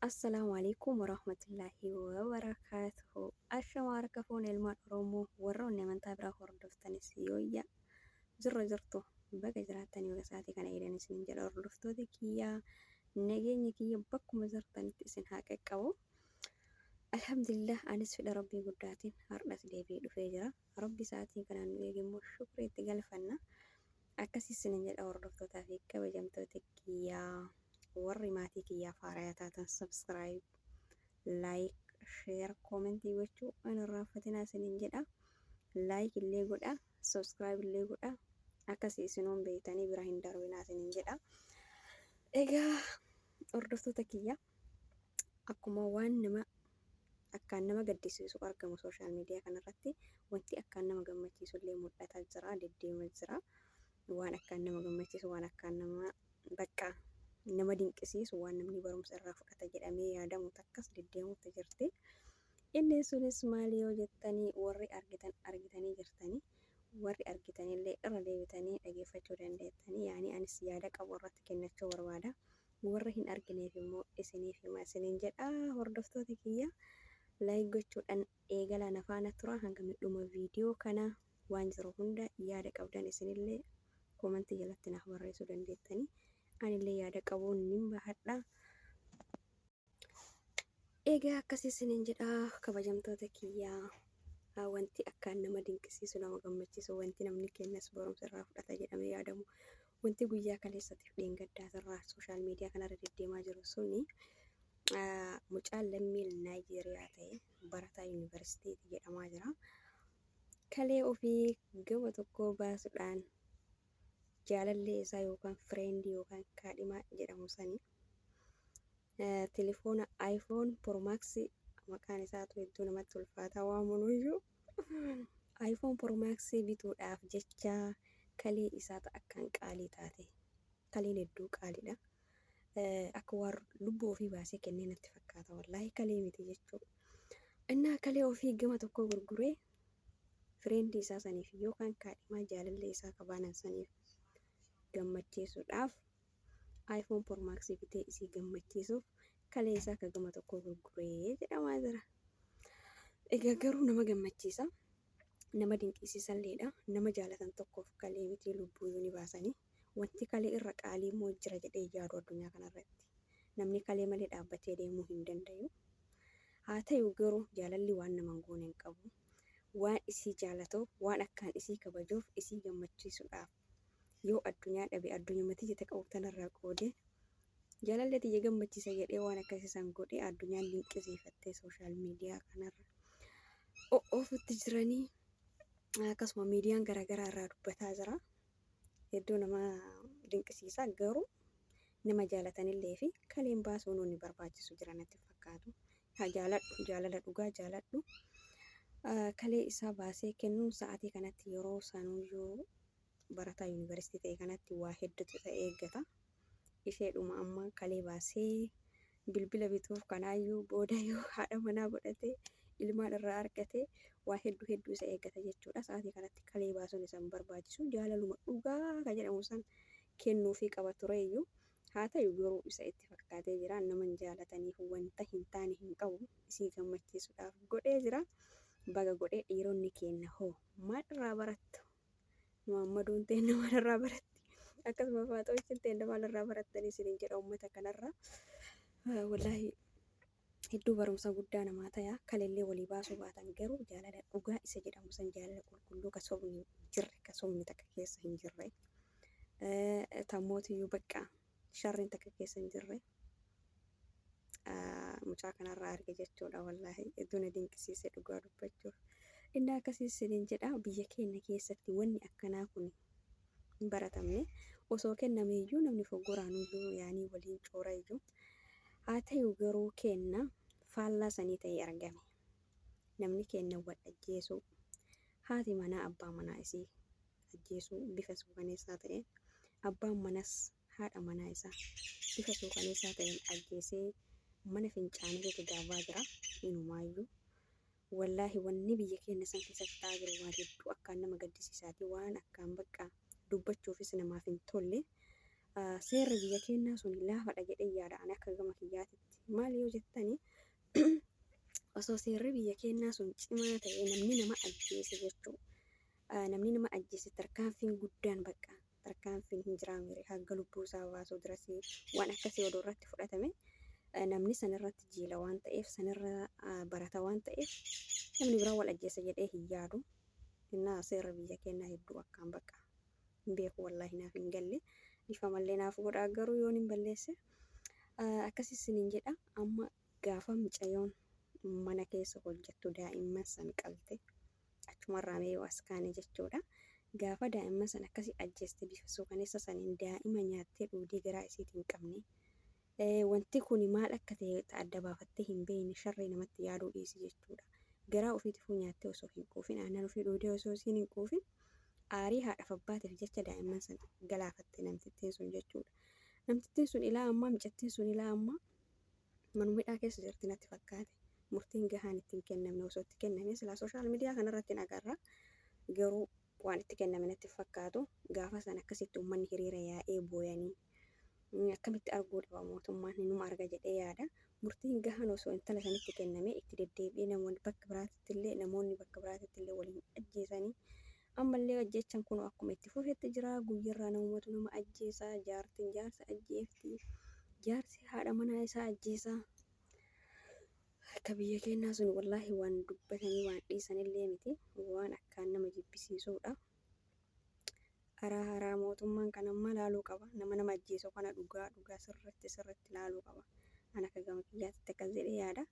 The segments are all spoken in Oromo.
Assalaamu alaikum warahmatullaahi wabarakaatuhu. Ashama harka fuune ilmaan Oromoo warroonni amantaa biraa hordoftanis yooyya jirra jirtu baga jiraattan yoo sa'aatii kana eedan isin jedha hordoftoota kiyyaa nageenyi kiyya bakkuma jirtanitti isin haa qaqqabu. Alhamdulillah anis fedha rabbii guddaatiin har'as deebi'ee dhufee jira. Rabbi sa'aatii kanaan nu eege immoo shukrii itti galfanna. Akkas isinin jedha hordoftootaa fi kabajamtoota kiyyaa warri maatii kiyyaaf haaraya taatan subscribe, like, share, comment gochuu hin irraanfatinaa isinin jedha. Like illee godhaa, subscribe illee godhaa. Akkasi isinoon beeytanii bira hin darbinaa isinin jedha. Egaa hordoftoota kiyyaa. Akkuma waan nama akkaan nama gaddisiisu argamu sooshaal miidiyaa kanarratti wanti akkaan nama gammachiisu illee mul'ataa jira, deddeema jira. Waan akkaan nama gammachiisu, waan akkaan nama bakka nama dinqisiisu, waan namni barumsa irraa fudhata jedhamee yaadamu takkas deddeemuutti jirti. Inni sunis maali yoo jettanii warri argitan argitanii jirtanii warri argitanillee irra deebitanii dhageeffachuu dandeettanii yaani anis yaada qabu irratti kennachuu barbaada. Warra hin argineef immoo isiniif hima isiniin jedha. Hordoftoota kiyya like gochuudhaan eegalaa na faana turaa hanga dhuma viidiyoo kana waan jiru hunda yaada qabdan isinillee komantii jalatti naaf barreessuu dandeettanii anillee yaada qabuun nin bahadha. Egaa akkas isiniin jedha kabajamtoota kiyyaa ah, wanti akkaan nama dinqisiisu nama gammachiisu wanti namni kennas barumsa irraa fudhata jedhamee yaadamu wanti guyyaa kaleessatiif dheengaddaa irraa sooshaal miidiyaa kanarra deddeemaa jiru suni ah, mucaan lammii Naayijeeriyaa ta'e barataa yuunivarsiitiiti jedhamaa jira. Kalee ofii gama tokkoo baasuudhaan jaalallee isaa yookaan friend yookaan kaadhimaa jedhamu sani telefoona iPhone Pro Max maqaan isaatu hedduu namatti ulfaataa waamunuyyuu iPhone Pro Max bituudhaaf jecha kalee isaa ta akkaan qaalii taate kaleen hedduu qaaliidha. Akka waan lubbuu ofii baasee kennee natti fakkaata wallaahi kalee miti jechuu. Innaa kalee ofii gama tokkoo gurguree Friend isaa saniif yookaan kaadhimaa jaalallee isaa ka baanan saniif gammachiisuudhaaf iPhone Pro Max bitee isii gammachiisuuf kaleessaa ka gama tokkoo gurgure jedhamaa jira. Egaa garuu nama gammachiisa. Nama dinqiisiisalleedha. Nama jaalatan tokkoof kalee mitii lubbuuyyuu ni baasanii. Wanti kalee irra qaalii immoo jira jedhee yaadu addunyaa kanarratti. Namni kalee malee dhaabbatee deemuu hin dandayu. Haa tayu garuu jaalalli waan naman goone hin qabu. Waan isii jaalatuuf, waan akkaan isii kabajuuf, isii gammachiisudhaaf yoo addunyaa dhabe addunyuma tiyya ta qabu tanarraa qoode jaalallee tiyya gammachiisa jedhee waan akkasii san godhe addunyaan dinqisiifattee social media kanarra o'oofutti jiranii akkasuma miidiyaan garaagaraa irraa dubbataa jira. hedduu nama dinqisiisa garuu nama jaalatanillee fi kaleen baasuu nuuni barbaachisu jira natti fakkaatu yaa jaaladhu jaalala dhugaa jaaladhu Ah, kalee isaa baasee kennuun sa'aatii kanatti yeroo sanuyyuu barataa yuunivarsiitii ta'e kanatti waa hedduutu isa eeggata isheedhuma amma kalee baasee bilbila bituuf kanaayyuu booda yoo haadha manaa godhate ilmaan irraa argate waa hedduu hedduu isa eeggata jechuudha sa'aatii kanatti kalee baasuun isa hin barbaachisu jaalaluma dhugaa ka jedhamu san kennuufii qaba tureeyyu haa ta'u garuu isa itti fakkaatee jira naman jaalataniif wanta hin taane hin qabu isii gammachiisuudhaaf godhee jira baga godhee dhiironni keenna hoo maal irraa barattu Muhammaduun teenna maalirraa baratti? Akkasuma Faaxoochin teenna maalirraa barattanii isiniin jedha uummata kanarraa. Wallaahi hedduu barumsa guddaa namaa tayaa kalellee walii baasuu baatan garuu jaalala dhugaa isa jedhamu san jaalala qulqulluu ka sobni jirre ka sobni takka keessa hin jirre tammootiyyuu baqqaa sharriin takka keessa hin jirre mucaa kanarraa arge jechuudha wallaahi hedduu na dinqisiise dhugaa dubbachuuf inni akkasiis siniin jedha biyya keenya keessatti wanni akkanaa kun hin baratamne osoo kenname iyyuu namni foggoraan iyyuu yaanii waliin coora iyyuu haa ta'u garuu keenna faallaa sanii ta'ee argame namni keenna wal ajjeesuu haati manaa abbaa manaa isii ajjeesuu bifa suukaneessaa ta'een, abbaan manas haadha manaa isaa bifa suukaneessaa ta'een ajjeesee mana fincaanii keessa darbaa jira. Inumaayyuu wallaahi wanni biyya keenna san keessatti ta'aa jiru waan hedduu akkaan nama gaddisiisaati, waan akkaan baqqaa dubbachuufis namaaf hin tolle. Seerri biyya keennaa suni laafadha jedheen yaada ani akka gama kiyyaatitti. Maali yoo jettani osoo seerri biyya keennaa sun cimaa ta'ee namni nama ajjeese jechuu Namni nama ajjeese tarkaanfiin guddaan bakka tarkaanfiin hin jiraamere hagga lubbuu isaa baasuu dirasii waan akkasii odoo irratti fudhatame namni san irratti jiila waan ta'eef san irra barata waan ta'eef namni biraa wal ajjeese jedhee hin yaadu. Innaa seerri biyya keennaa hedduu akkaan bakka hin beeku wallaahi naaf hin galle dhifamallee naaf godhaa garuu yoon hin balleesse akkasii isiniin jedha amma gaafa micayoon mana keessa hojjettu daa'imman san qalte Achumarraa mee yoo as kaane jechuudha. Gaafa daa'imman san akkasi ajjeeste bifa suukaneessa saniin daa'ima nyaattee dhuudee garaa isiiti hin qabne. Wanti kuni maal akka ta'e ta adda baafattee hin beeyne sharrii namatti yaaduu dhiisi jechuudha. Garaa ufiitifuu nyaattee osoo hin quufin aannan ufii dhuudee osoo isiin hin quufin aarii haadhaf abbaatiif jecha daa'imman san galaafatte namtittiin sun jechuudha. Namtittiin sun ilaa ammaa micattiin sun ilaa ammaa. Manuma hidhaa keessa jirti natti fakkaate. Murtiin gahaan itti hin kennamne. Osoo itti kennamee silaa social media kana irratti hin agarra. Garuu waan itti kenname natti hin fakkaatu. Gaafa sana akkasitti uummanni hiriira yaa'ee booyanii akkamitti arguu dhaba mootummaan numa arga jedhee yaada. Murtiin gahaan osoo intala sanitti kennamee itti deddeebi'ee namoonni bakka biraatitti illee namoonni bakka biraatitti illee waliin ajjeesanii Ammallee ajjeechan kunoo akkuma itti fufetti jira. Guyyarraa namumatu nama ajjeesa, jaartin jaarsa ajjeefti, jaarsi haadha manaa isaa ajjeesa. Akka biyya keennaa sun wallaahi waan dubbatanii waan dhiisanillee miti. Waan akkaan nama jibbisiisuudha. Araa haraa mootummaan kan ammaa laaluu qaba. Nama nama ajjeesu kana dhugaa dhugaa sirritti sirritti laaluu qaba. An akka gama kiyyaatitti akkas jedhee yaada.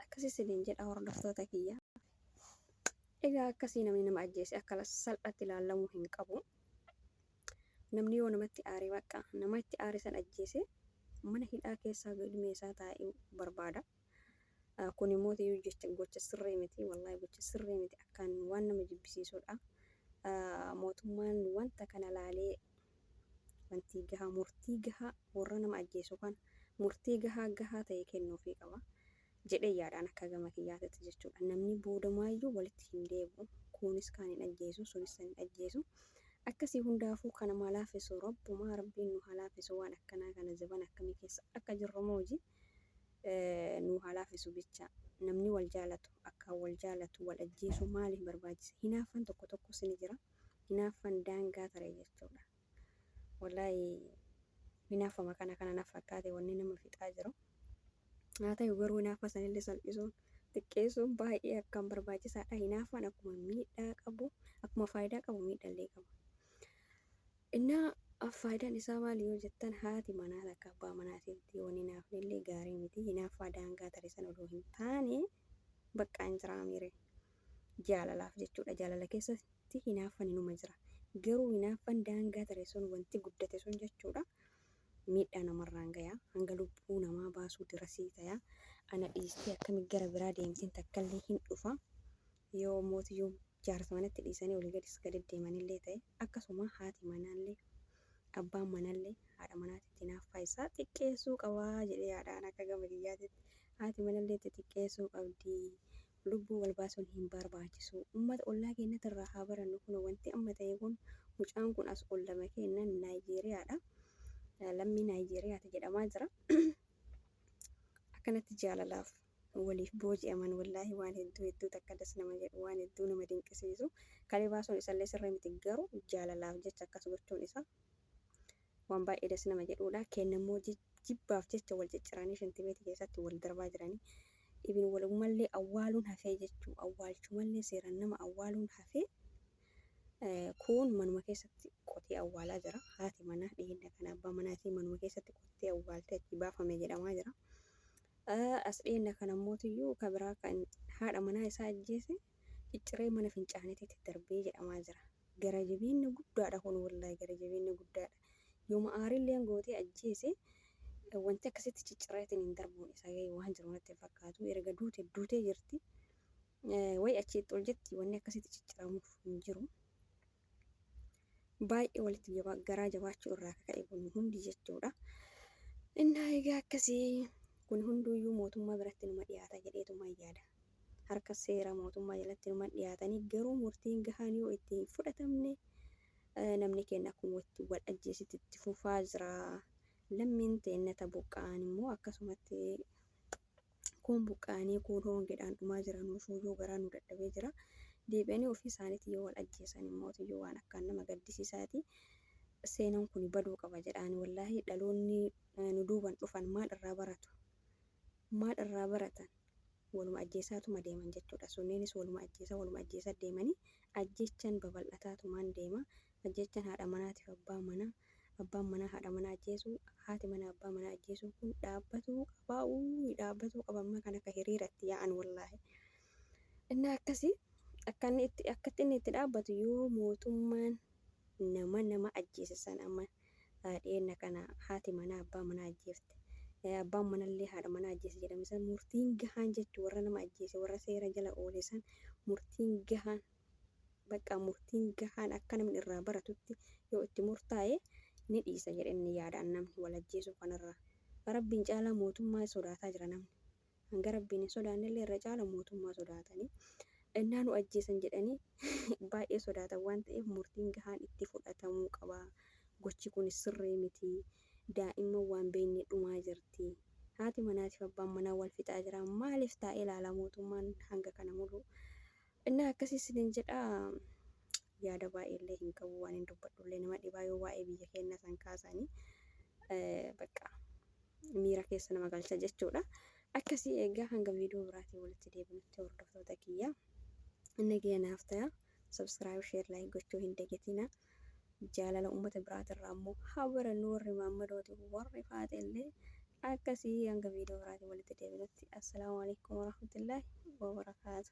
Akkasii siniin jedha hordoftoota kiyya. Egaa akkasii namni nama ajjeese akka salphaatti ilaalamuu hin qabu. Namni yoo namatti aare bakka nama itti aare san ajjeese mana hidhaa keessaa galmee isaa taa'uu barbaada. Kun immoo ta'uu jecha gocha sirrii miti. Wallaahi gocha sirrii miti. Akkaan waan nama jibbisiisudha. Mootummaan wanta kana laalee wantii gahaa murtii gahaa warra nama ajjeesu kan murtii gahaa gahaa ta'e kennuufii qaba. jedhee yaada an akka gama kiyyaatitti jechuudha namni boodamaayyuu walitti hin deebi'u kuunis kaan hin ajjeesu sunis san hin ajjeesu akkasii hundaafuu kan namaa laaffisu rabbumaa rabbiin nu haa laaffisu waan akkanaa kana zaban akkamii keessa akka jirru mooji nu haa laaffisu bicha namni wal jaalatu akkaan wal jaalatu wal ajjeesuu maaliif barbaachise hinaaffan tokko tokkos ni jira hinaaffan daangaa tare jechuudha. Wallaahi hinaafuma kana kana na fakkaate wanni nama fixaa jiru. Haa ta'u garuu hinaafa sanillee salphisuun, xiqqeessuun baay'ee akkaan barbaachisaadha. Hinaafaan akkuma miidhaa qabu, akkuma faayidaa qabu miidhallee qaba. Innaa faayidaan isaa maali yoo jettan haati manaa takka abbaa manaatitti yoo hin hinaafnellee gaarii miti. Hinaaffaa daangaa tarisan odoo hin taane baqqaan jiraa miire. jaalalaaf jechuudha. Jaalala keessatti hinaaffan inuma jira. Garuu hinaaffan daangaa tare sun wanti guddate sun jechuudha miidhaa namarraan gayaa hanga lubbuu namaa baasuu dirasii tayaa ana dhiistee akkami gara biraa deemteen takkallee hin dhufa yoo mootiyyuu jaarsa manatti dhiisanii olii gadis gadi deemanillee ta'e akkasuma haati manaallee abbaan manallee haadha manaatitti hinaaffaa isaa xiqqeessuu qabaa jedhee yaadaan akka gama kiyyaatitti haati manallee itti xiqqeessuu qabdii Lubbuu wal baasun hin barbaachisu. Ummata ollaa keennati irraa haa barannu kuno wanti amma ta'e kun mucaan kun as ollama keenna Nigeria dha. Lammii Nigeria ti jedhamaa jira. Akkanatti jaalalaaf waliif booji'aman wallaahi waan hedduu hedduu takka das nama jedhu waan hedduu nama dinqisiisu. Kalee baasuun isallee sirrii miti garuu jaalalaaf jecha akkas gochuun isaa Waan baay'ee das nama jedhuudha. Keenna immoo jibbaaf jecha wal cicciranii shinti beeti keessaatti wal darbaa jirani. Ibin waliumallee awwaaluun hafee jechuu awwaalchumallee seeraan nama awwaaluun hafee kuun manuma keessatti qotee awwaalaa jira. Haati manaa dhiheenya kana abbaa manaa isii manuma keessatti qottee awwaaltee achi baafame jedhamaa jira. As dhiheenya kana mootiyyuu ka biraa kan haadha manaa isaa ajjeese cicciree mana fincaaniititti darbee jedhamaa jira. Gara jabeenna guddaadha kun wallahi gara jabeenna guddaadha yooma aarilleen gootee ajjeese wanti akkasitti cicciraatiniin darbuun isaa gahee waan jiru natti hin fakkaatu erga duute duutee jirti way achi itti ol jetti wanni akkasitti cicciramuuf hin jiru baay'ee walitti jabaa garaa jabaachuu irraa akka ka'e kun hundi jechuudha innaa egaa akkasii kun hunduuyyuu mootummaa biratti numa dhiyaata jedheetumaan yaada harka seera mootummaa jalatti numan dhiyaatanii garuu murtiin gahaan yoo itti hin fudhatamne namni keenna akkuma itti wal ajjeesitti itti fufaa jira. Lammiin teenna ta buqqa'an immoo akkasumatti kuun buqqa'anii kuun hoongedhaan dhumaa jira nuufuuyyuu garaa nu dadhabee jira. Deebi'anii ofii isaaniitiin yoo wal ajjeesan immootiyyuu waan akkaan nama gaddisiisaati. Seenan kuni baduu qaba jedhaani wallaahii dhaloonni nu duuban dhufan maal irraa baratu? maal irraa baratan? Waluma ajjeesaatuma deeman jechuudha. Sunniinis waluma ajjeesaa waluma ajjeesaa deemanii ajjeechaan babal'ataatumaan deema. Ajjeechaan haadha manaatiif abbaa manaa, abbaan manaa haadha manaa ajjeesuu, haati manaa abbaa manaa ajjeesuu kun dhaabbatuu qabaa uuy dhaabbatuu qaba amma kan akka hiriiratti yaa'an wallaahi. Innaa akkasi akka inni itti akkatti inni itti dhaabbatu yoo mootummaan nama nama ajjeese san amma dhiyeenna kana haati manaa abbaa manaa ajjeefte. Abbaan manallee haadha manaa ajjeese jedhame san murtiin gahaan jechuun warra nama ajjeese warra seera jala oole san murtiin gahaan baqqaa murtiin gahaan akka namni irraa baratutti yoo itti murtaa'e ni dhiisa jedheen ni yaada an namni wal ajjeesuu kanarraa. Rabbiin caalaa mootummaa sodaataa jira namni. Hanga Rabbiin hin sodaannellee irra caala mootummaa sodaatanii ennaa nu ajjeesan jedhanii baay'ee sodaatan waan ta'eef murtiin gahaan itti fudhatamuu qaba. Gochi kunis sirrii miti. Daa'imman waan beekne dhumaa jirti. Haati manaatiif abbaan manaa wal fixaa jira. Maaliif taa'ee laala mootummaan hanga kana mulu? Innaa akkasii isiniin jedha yaada baay'ee illee hin qabu waan hin dubbadhu illee nama dhibaa yoo waa'ee biyya keennaa san kaasaani bakka miira keessa nama galcha jechuudha. Akkasii eegaa hanga viidiyoo biraatiin walitti deebinutti hordoftoota kiyya inni gahee naaf ta'a. Subscribe, share, like gochuu hin dagatina. Jaalala uummata biraatirraa ammoo haa barannu warri maammadooti warri faate illee akkasii hanga viidiyoo biraatiin walitti deebinutti assalaamu alaikum warahmatullaahi wabarakaatu.